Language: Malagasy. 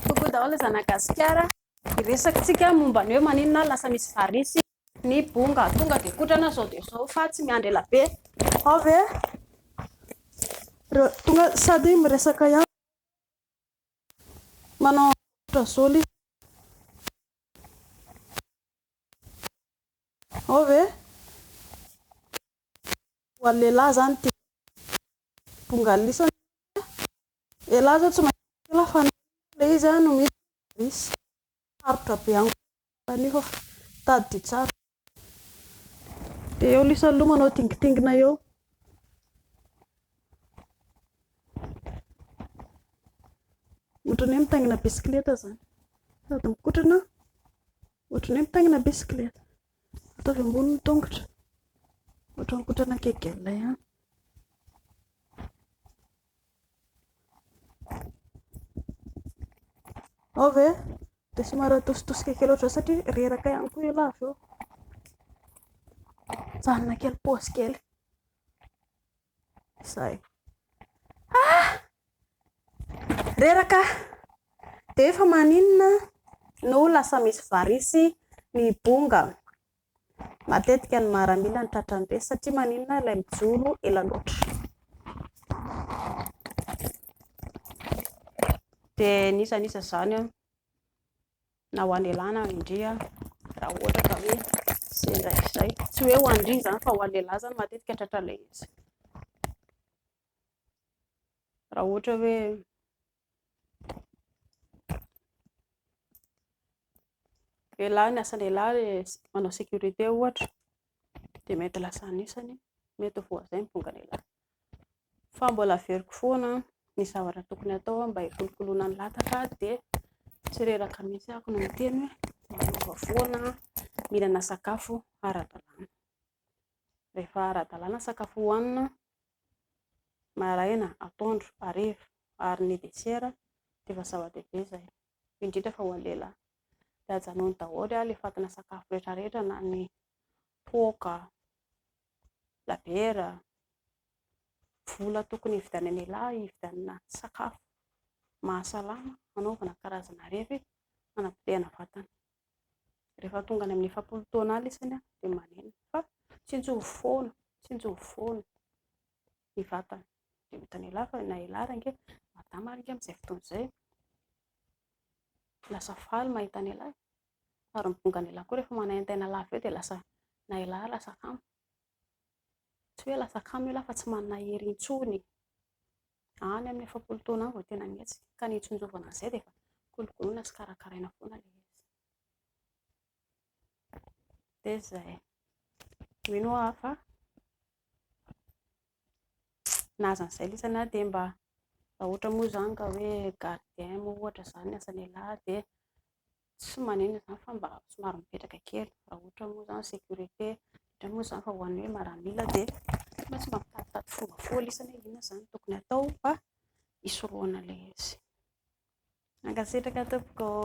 Coucou daholo zana gasikara. Hiresakitsika momba ny hoe maninona lasa misy varisy ny bonga. Tonga dia kotrana zao dia zao fa tsy miandry ela be. Ao ve? Tonga sady miresaka ihany. Manao ultrasol. Ao ve? Ho an'ny lehilahy zany ty. Bonga lisany. Elah zao tsy mahita an'io elah fa le izy no misy virus, sarotra be amiko koa anio fa tadidio tsara izy io, dia eo lisa aloha manao dingitingina eo. Ohatran'ny hoe mitaingina bisikileta zany, sady mikotrana ohatran'ny hoe mitaingina bisikileta, ataovy ambony ny tongotra, ohatran'ny mikotrana kegel ihany. Ao ve? Dia somary atositosika kely ohatr'izao satria reraka ihany koa io lava io. Mijanona kely paosy kely. Izay. Ah! Reraka. Dia efa maninona no lasa misy varisy ny bonga? Matetika ny maramila no tratran'ireny satria maninona? Ilay mijoro ela loatra. Dia ny iza ny iza izany an, na ho an'i lehilahy na ho an'i ndry an, raha ohatra ka hoe sendra izay, tsy hoe ho an'i ndry izany fa ho an'i lehilahy izany matetika tratran'ilay izy, raha ohatra hoe. Lehilahy, ny asan'ny lehilahy le manao sécurité ohatra dia mety lasa anisany mety ho voazay ny tonga-dehilahy. Fa mbola averiko foana ny zavatra tokony hatao mba hikolokoloana ny lataka dia tsy reraka mihitsy ahako no miteny hoe miova foana, mihinana sakafo ara-dalàna. Rehefa ara-dalàna sakafo hohanina maraina, atoandro, hariva, ary ny desera dia efa zava-dehibe izay, indrindra fa ho an'ny lehilahy, dia ajanony daholo ary alefatina sakafo rehetrarehetra na ny toaka, labiera, vola tokony hividianan'ny lehilahy hividianana sakafo mahasalama hanaovana karazana revy hanapotehana vatana. Rehefa tonga any amin'ny efapolo taona any isany dia manenina fa tsinjo foana, tsinjo foana ny vatany. Dia hitan'i elah fa na elah ary ange madama ary ange amin'izay fotoana izay lasa faly mahita an'i elah ary ny bongan'i elah koa rehefa manaintaina lava eo dia lasa na elah ary lasa kamo. Tsy hoe lasa kamo ialahy fa tsy manana hery intsony. Any amin'ny efapolo taona any vao tena mihetsika. Ka ny hitsinjovana an'izay dia efa kolokoloina sy karakaraina foana ilay izy. Dia izay. Mino aho fa na aza an'izay lisany ary dia mba raha ohatra moa izany ka hoe gardien moa ohatra izany ny asan'ialahy dia Tsy maneno izany fa mba somary mipetraka kely, raha ohatra moa izany sécurité indray moa izany fa ho an'ny hoe maramila dia mba tsy mba mitaditady fomba foana isany hoe inona izany tokony hatao mba hisorohana ilay izy. Mankasitraka tompoko ô.